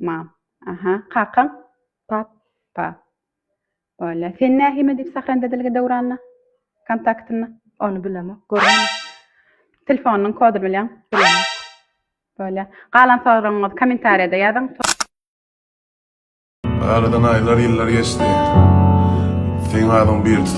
Mam. Aha, kakaň? Pap. Pa. Bolýar. Sen nähime diýip sahranda dilgi Döwranda? Kontaktynda? Ony bilemok. Görmedim. Telefonynyň kodyny bilýäň? Bilemok. Bolýar. Galan soragyňyzy kommentariýada ýazyň. Aradan aýlar, ýyllar geçdi. Seň adyň birdi.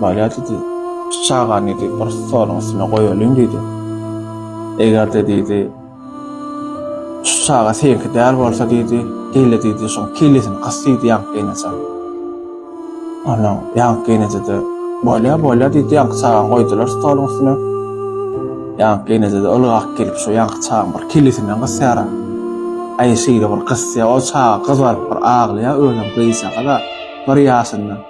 Bolýar diýdi. Şu çagany diýdi, bir stoluň üstüne goýalyň diýdi. Eger-de diýdi, şu çaga seňki däl bolsa diýdi, gel-de diýdi, şoň kellesini kys diýdi ýaňky geýneje. Ondan ýaňky geýneje-de bolýar, bolýar diýdi, ýaňky çagany goýdular stoluň üstüne. Ýaňky geýneje-de ylgap gelip, şu ýaňky çagaň bir kellesinden gysýar. Aý, şeýle bir gysýar, ol çaga gyzaryp bir aglaýar, özem gyzjagaz-a, bir ýaşynda.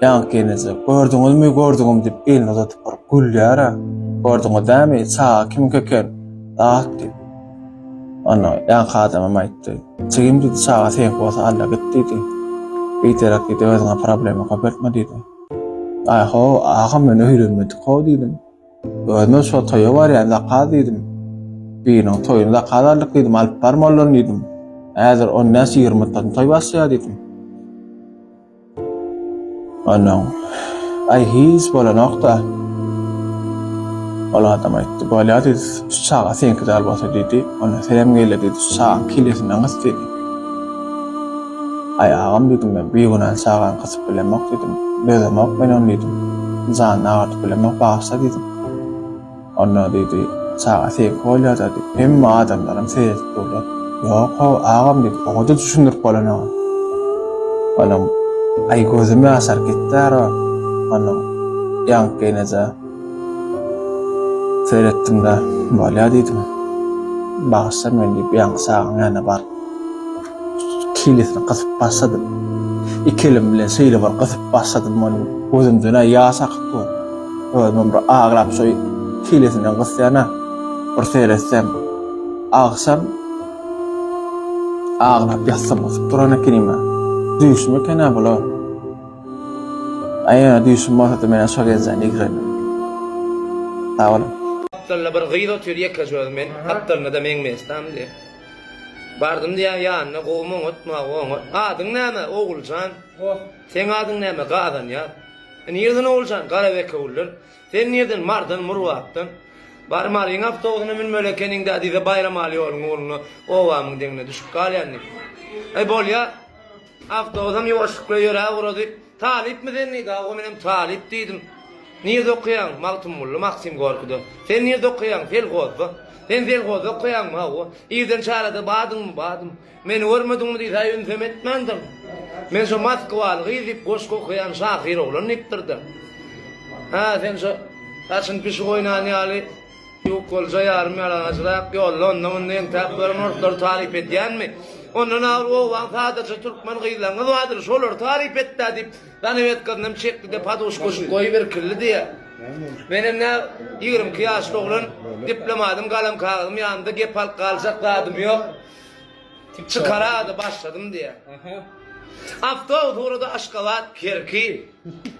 Ýaňky gelneje, Gördüňizmi, gördüňiz diýip, elini uzadyp baryp gülýär-ä. Gördüňiz dämi, çaga kimiňki eken, dat diýip. Onda ýaňky adamam aýtdy. Jigim diýdi, çaga seňki bolsa alla git diýdi. Biderek diýdi, özüňe problema köpeltme diýdi. Aý-ho, agam men öýlenmedik-how diýdim. Özümem şol toýa barýan zakaz diýdim. Biriniň toýuny zakaz aldyk diýdim, alyp bar mollany diýdim. Häzir on bäş-ýigrimi mutdadan toý başlaýar diýdim. Onuň Aý hiç bolanok-da. Ol adam aýtdy. Bolýa diýdi, şu çaga seňki däl bolsa diýdi, onda senem gelýä diýdi, şu çagaň kellesinden gys diýdi. Aý agam diýdim men, bigünä çagany gysyp bilemok diýdim, dözemok men ony diýdim, janyny agyrdyp bilemok, bagyşla diýdim. Onda, diýdi, çaga seýik bolýa-da, diýip, hemme adamlaram seredip durlar. Ýok-ow, agam, diýdi, oňa-da düşündirip bolanok. Onuň aý gözüm ýaşaryp gitdär-ä, onuň ýaňkynajy seretdim-de, bolýa diýdim. Bagyşla meni diýip, ýaňky çagaň ýanyna bardyk. kellesini gysyp başladym. Iki elim bilen şeýle bir gysyp başladym muny, gözümden-ä ýaş akyp dur. Özümem bir aglap şo kellesinden gysýan-a. Bir seretsem, agşam aglap ýassam gysyp duran ekenim-ä. Düýşüm eken-ä bular. Aýa düýşüm bolsa-da men-ä şo gelje nigrendim. Sag boluň. Gapdalynda bir gyz otyr ýekeje özüm men, gapdalynda-da meň mesdam diýip. Bardym diýýär ýanyna, Gowumy oňatma, oňat. Adyň näme, Oguljan? Goh. Seň adyň näme, Gazanýaz? Nirden Oguljan? Garabekewülden. Sen nirden, Mardan, Murbatdan. Bar, Maryň awtobusyna münmeli ekeniň-dä diýse, Baýramaly ýoluň ugrunda obamyň deňine düşüp galýan diý. Aý, bolýar. Awtobusam ýuwaşlykly ýöräp ugrady. Talypmy sen diýdi. Hawa, menem talyp diýdim. Nirde okaýaň? Magtymguly, Maksim Gorkide. Sen nirde okaýaň? Selhozda. Sen selhozda okaýaňmy? Hawa. Irden çärede bardyňmy? Bardym. Meni görmediňmi diýsä, ünsem etmändir. Men şo moskwaly gyz diýip, goşgy okaýan şahyr oglan diýipdir-de. Hä, sen şo saçyny pişik oýnan ýaly, Ýok bolja ýarym ýalagajrak ýolda onda-munda entäp gören orslary taryp edýänmi? Ondan agyr owadan sazajy türkmen gyzlaryňyz bardyr, şolary taryp et-dä! diýip, zanawedkasynam çekdi-de, poduşkaşyny goýup irkildi diýýär. Menem nä, ýigrimi iki ýaşly oglan, diplomadym, galam-kagyzym ýanymda, gep alyp galjak zadym ýok. Çykara-da başladym diýýär. Awtobus ugrady Aşgabat, Kerki.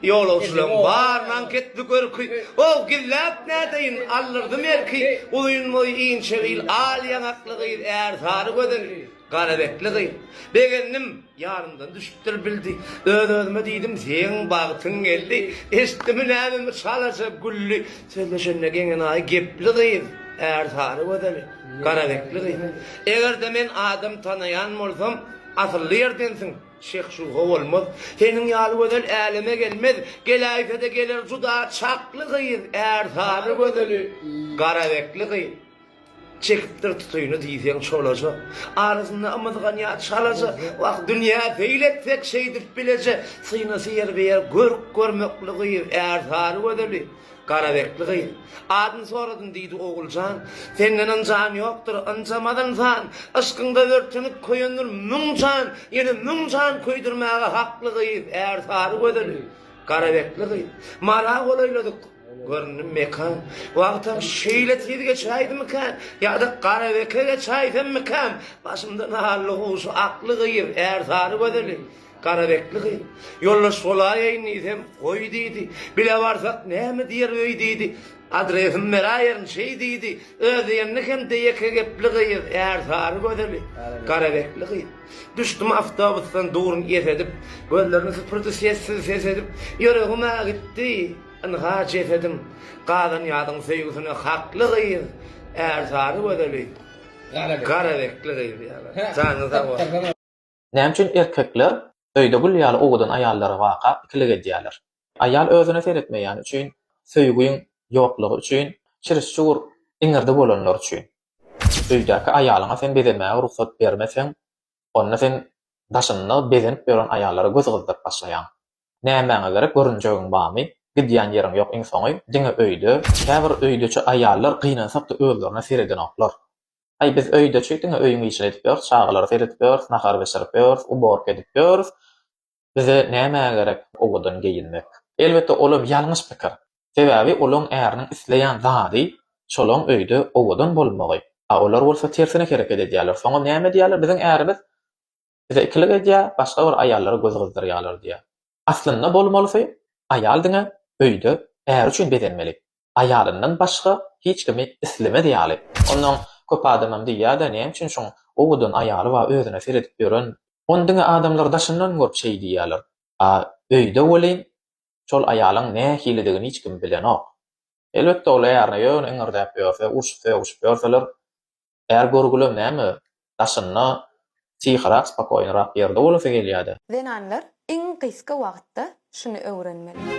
Ýolagçylaryň baryny anketli görki, Ow, gilläp nädeýin, aldyrdym erki. Uzyn boýy, inçe bil, al ýaňakly gyz, Ärsary gözeli, gara betli gyz. Begendim, ýarymdan düşüpdir bildi. Öz-özüme diýdim, seň bagtyň geldi. Eşitdimi nämemi çalaja gülli, Sözleşende geňenaýy gepli gyz, Ärsary gözeli, gara betli gyz. Eger-de men adam tanaýan bolsam, Asylly ýerdensiň, Şeh şubha bolmaz, seniň ýaly gözel äleme gelmez, geläýse-de geler juda çakly gyz, ärsary gözeli, garabekli gyz. Çekipdir tutyny diýseň çolaja, arasynda ymyzganýar çalaja, wah, dünýä seýil etsek şeýdip bileje, synasy ýerbe-ýer görk görmekli gyz, ärsary gözeli, Garaberkli gyz. Adyny soradym, diýdi Oguljan. Senden ynjan ýokdur, ynjamaz ynsan. Yşkyňda örtenip köýendir müň jan, ýene müň jan köýdürmäge hakly gyz, ärsary gözeli. Garaberkli gyz. Mara golaýladyk. Göründi mekan. Wagtam şeýle tiz geçäýdimikä? Ýa-da Garabeke geçäýsemmikäm? Başymda nally guşy akly gyz, ärsary gözeli. Gara bekli gyz, Ýoldaş bolaýaýyn diýsem, goý diýdi. Bile barsak näme diýer öý diýdi. Adresimi beräýerin şeý diýdi. Öz diýenini hem-de ýeke gepli gyz, ärsary gözeli. Gara bekli gyz. Düşdüm awtobusdan durun ýes edip. Gözlerini süpürdi sessiz ses edip. Ýüregim-ä gitdi, ynha jesedim. Gazan ýazyň söýgüsine hakly gyz, ärsary gözeli. Gara bekli gyz. Janyň sag bolsun. Näme üçin erkekler öýde gül ýaly owadan aýallara baka ikilik edýärler? Aýal özüne seretmeýäni üçin, söýgiň ýoklugy üçin, çiriş-çugur iňirdi bolanlar üçin. Öýdäki aýalyňa sen bezemäge rugsat bermeseň, onda sen daşynda bezenip ýören aýallara göz gyzdyryp başlaýaň. Nämäňe gerek, görünjegiň barmy? Gidýän ýeriň ýok iň soňy, diňe öýde. Käbir öýdeçi aýallar gynansakda özlerine seredenoklar. Aý, biz öýde çüýk diňe öýüň işini edip ýörüs, çagalara seredip ýörüs, nahar bişirip ýörüs, uborka edip ýörüs. Bize nämä gerek owadan geýinmek? Elbetde, olam ýalňyş pikir. Sebäbi olaň äriniň isleýän zady şolaň öýde owadan bolmagy. A olar bolsa tersine hereket edýärler. Soňam näme edýärler? Biziň ärimiz Bize ikilik edýär, başga bir aýallara göz gyzdyrýarlar diýýär. Aslynda bolmalysy, aýal diňe öýde äri üçin bezenmeli. Aýalyndan başga hiç kimi islemez ýaly. Onnoň köp adamam diýýär-de, näme üçin şoň owadan aýaly bar, özüne seredip ýören. Ony diňe adamlar daşyndan görüp şeý diýýärler. A öýde welin, şol aýalyň nähilidigini hiç kim bilenok. Elbetde, ol ärine ýöne iňirdäp ýörse, urşup-sögüşip ýörseler, Är görgülem näme, daşynda syhyrak, spokoýnyrak ýerde bolasy gelýär-dä. Zenanlar iň gysga wagtda şuny öwrenmeli.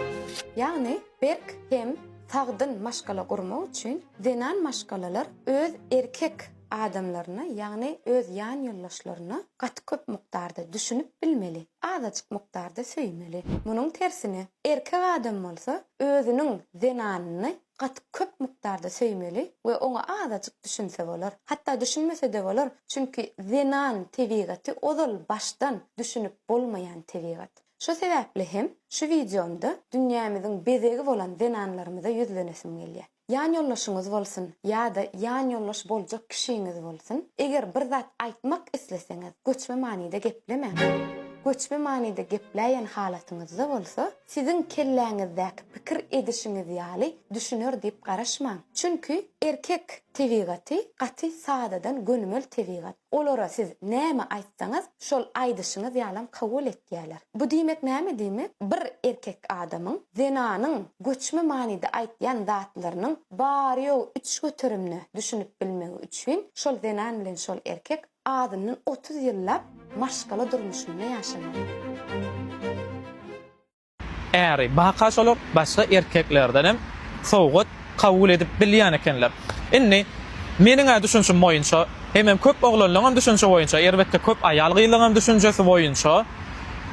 Ýagny berk hem sagdyn maşgala gurmak üçin zenan maşgalalar öz erkek adamlaryna, ýagny öz ýan ýoldaşlaryna gaty köp mukdarda düşünip bilmeli, azajyk mukdarda söýmeli. Munuň tersine, erkek adam bolsa özüniň zenanyny Gaty köp mukdarda söýmeli we oňa azajyk düşünse bolar. Hatda düşünmese-de bolar, çünki zenan tebigaty ozal başdan düşünip bolmaýan tebigat. Şo sebäpli hem şu wideomda dünýämiziň bezegi bolan zenanlarymyza ýüzlenesim gelýär. Ýanýoldaşyňyz bolsun ýa-da ýanýoldaş boljak kişiňiz bolsun, eger bir zat aýtmak isleseňiz, göçme manyda geplemäň. Göçme manyda gepläýen halatyňyzda bolsa, Siziň kelläňizdäki pikir edişiňiz ýaly düşüner diýip garaşmaň. Çünki erkek tebigaty gaty sadadan gönümel tebigat. Olara siz näme aýtsaňyz, şol aýdyşyňyz ýalam kabul etýäler. Bu diýmek näme diýmek, bir erkek adamyň zenanyň göçme manyda aýtýan zatlarynyň bary-ýogy üç göterimde düşünip bilmegi üçin şol zenan bilen şol erkek Azyndan otuz ýyllap maşgala durmuşynda ýaşaýar. Äri, baka şolar başga erkeklerdenem sowgat kabul edip bilýän ekenler. Indi, meniň-ä düşünşim boýunça, hemem köp oglanlaňam düşünşi boýunça, erbetde köp aýal-gyzlaňam düşünjesi boýunça,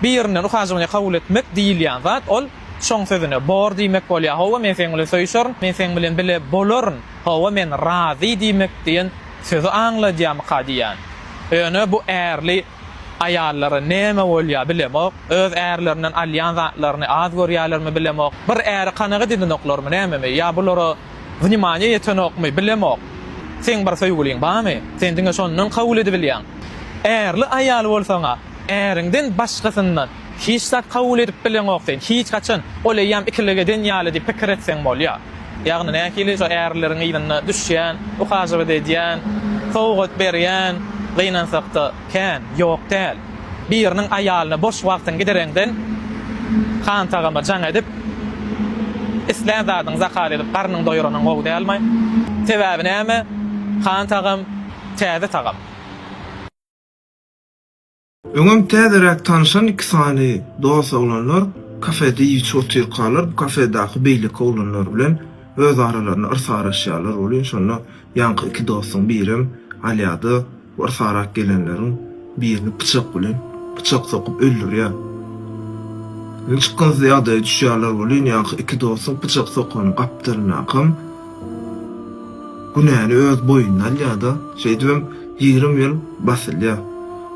birinden uhajowaniýa kabul etmek diýilýän zat, ol şoň sözüne bor diýmek bolýar, Hawa, men seň bilen söýüşerin, men seň bilen bile bolaryn. Hawa men razy diýmek diýen sözi aňladýamyka diýýän. Ýöne bu ärli aýallara näme bolýar bilemok, öz ärlerinden alýan zatlaryny az görýärlermi bilemok, bir äre kanagat edenoklarmy nämemi ýa bulara wnimaniýa ýetenokmy bilemok. Seň bir söýgüliň barmy? Sen diňe şondan kabul edibilýäň. Ärli aýal bolsaň-a, äriňden başgasyndan Hiç zat kabul edip bileňok sen, hiç haçan. Ol eýýäm ikilik eden ýaly diýip pikir etseň bolýar. Ýagny nähili şo ärleriň yzyna düşýän, uhajewat edýän, sowgat berýän, gynansakda, kän, ýok däl. Biriniň aýalyna boş wagtyňy gidereňden, hantagama jaň edip, islän zadyňy zakaz edip garnyňy doýuranyň gowy dälmi? Sebäbi näme? Hantagam, täze tagam. Öňem täzeräk tanyşan iki sany dos oglanlar kafede iýiçi otyrkalar bu kafedaky beýleki oglanlar bilen öz aralarynda yrsaraşýarlar welin şonda ýaňky iki dostuň birem alýada bu yrsarak gelenleriň birini pyçak bilen pyçak sokup öldürýär. Ýüňçykgynsyz ýagdaýa düşýärler welin ýaňky iki dostuň pyçak sokany gapdalynakam Günäni öz boýnuna alýar-da, şeýdibem ýigrimi ýyl basylýar.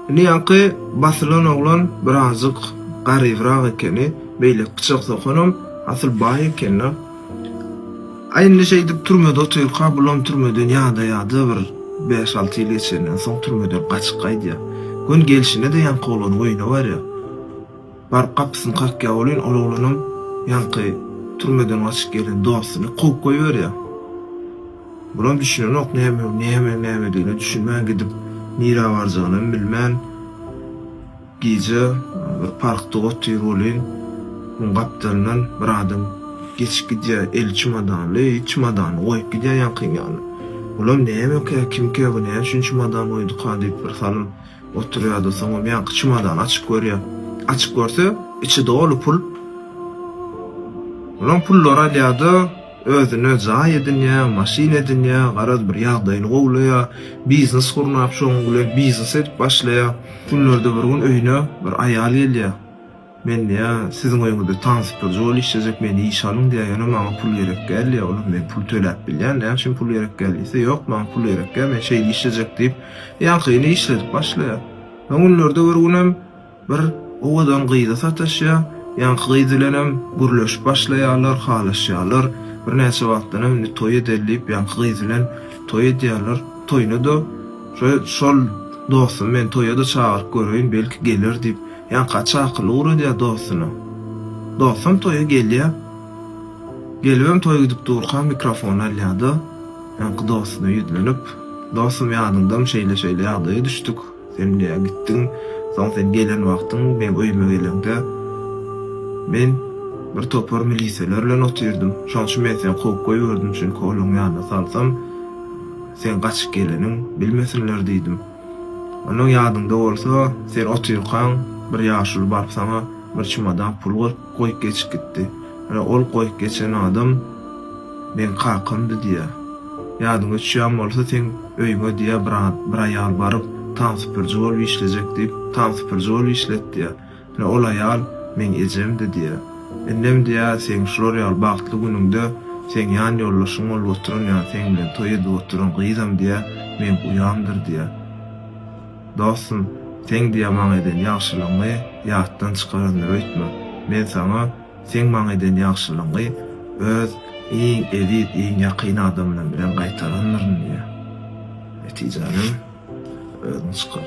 Indi ýaňky basylan oglan birazjyk garybrak ekeni, beýleki pyçak sokanam asyl baý eken-le. A indi şeýdip türmede otyrka bulam türmeden ýadaýada bir bäş-alty ýyl geçenden soň türmeden gaçyp gaýdýar. Gün gelşine-de ýaňky oglan oýuna barýar. Baryp gapysyny kakýar welin, ol oglanam ýaňky türmeden gaçyp gelen dostuny kowup goýberýär. Bulam düşünenok, näme, näme, nämedigine düşünmän gidip, nirä barjagynam bilmän, gije bir parkda otyr welin, muň gapdalyndan bir adam geçip gidýär, eli çymadanly, çymadany goýup gidýär ýaňkyň ýanyna. Bulam nämekä, kimkä, bu näme üçin çymadan goýduka diýip, birsalym. Oturýardy, soňam ýaňky çemodany açyp görýär. Açyp görse, içi doly pul. Olam pullary alýar-da, özüne jaý edinýär, maşyn edinýär, garaz bir ýagdaýyny gowlaýar, biznes gurnap, şonuň bilen biznes edip başlaýar. Günlerde bir gün öýüne bir aýal gelýär. Men diýä, siziň öýüňizde taňsypdyr jol işlejek, meni işe alyň diýä, ýöne maňa pul gerek däl diýä, olam men pul töläp bilýän, näme üçin pul gerek däl diýse, ýok, maňa pul gerek däl, men şeýle işlejek diýip, ýaňkyny işledip başlaýar. Soň günlerde bir günem bir owadan gyza sataşýar, ýaňky gyz bilenem gürleşip başlaýarlar, halaşýarlar, birnäçe wagtdanam indi toý edeli diýip, ýaňky gyz bilen toý edýärler, toýuna-da şol dostum, men toýa-da çagyryp göreýin, belki geler diýip, Ýaňky çakyly ugradýar dostuna. Dostam toýa gelýär. Gelibem toý gidip durka mikrofony alýar-da, ýaňky dostuna ýüzlenip, Dostum, ýadyňdamy, şeýle-şeýle ýagdaýa düşdük. Sen diýýär, gitdiň. Soň sen gelen wagtyň, meň öýüme geleňde, men bir topar milisiýalar bilen otyrdym. Şoň üçin men seni kowup goýberdim, çünki olaryň ýanyna salsam, seň gaçyp geleniň bilmesinler diýdim. Onnoň ýadyňda bolsa, sen otyrkaň, bir ýaşuly baryp saňa bir çumadak pul goýup geçip gitdi. Ine, ol goýup geçen adam meň kakamdy diýýä. Ýadyňa düşýän bolsa, seň öýüňe diýýä, bir aýal baryp, Tam süpürji bolup işlejek diýip, tam süpürji bolup işlet diýýä. Ine, ol aýal meň ejemdi diýýär. Indem diýýär, seň şular ýaly bagtly günüňde seň ýan ýoldaşyň bolup oturan, ýa seň bilen toý edip oturan gyzam diýýär, meň uýamdyr diýýär. Dostum, seň diýýär maňa eden ýagşylygyňy ýatdan çykarandyr öýtme. Men saňa seň maňa eden ýagşylygyňy öz iň eziz, iň ýakyn adamlarym bilen gaýtarandyryn diýýär. Netijänem özüň çykar.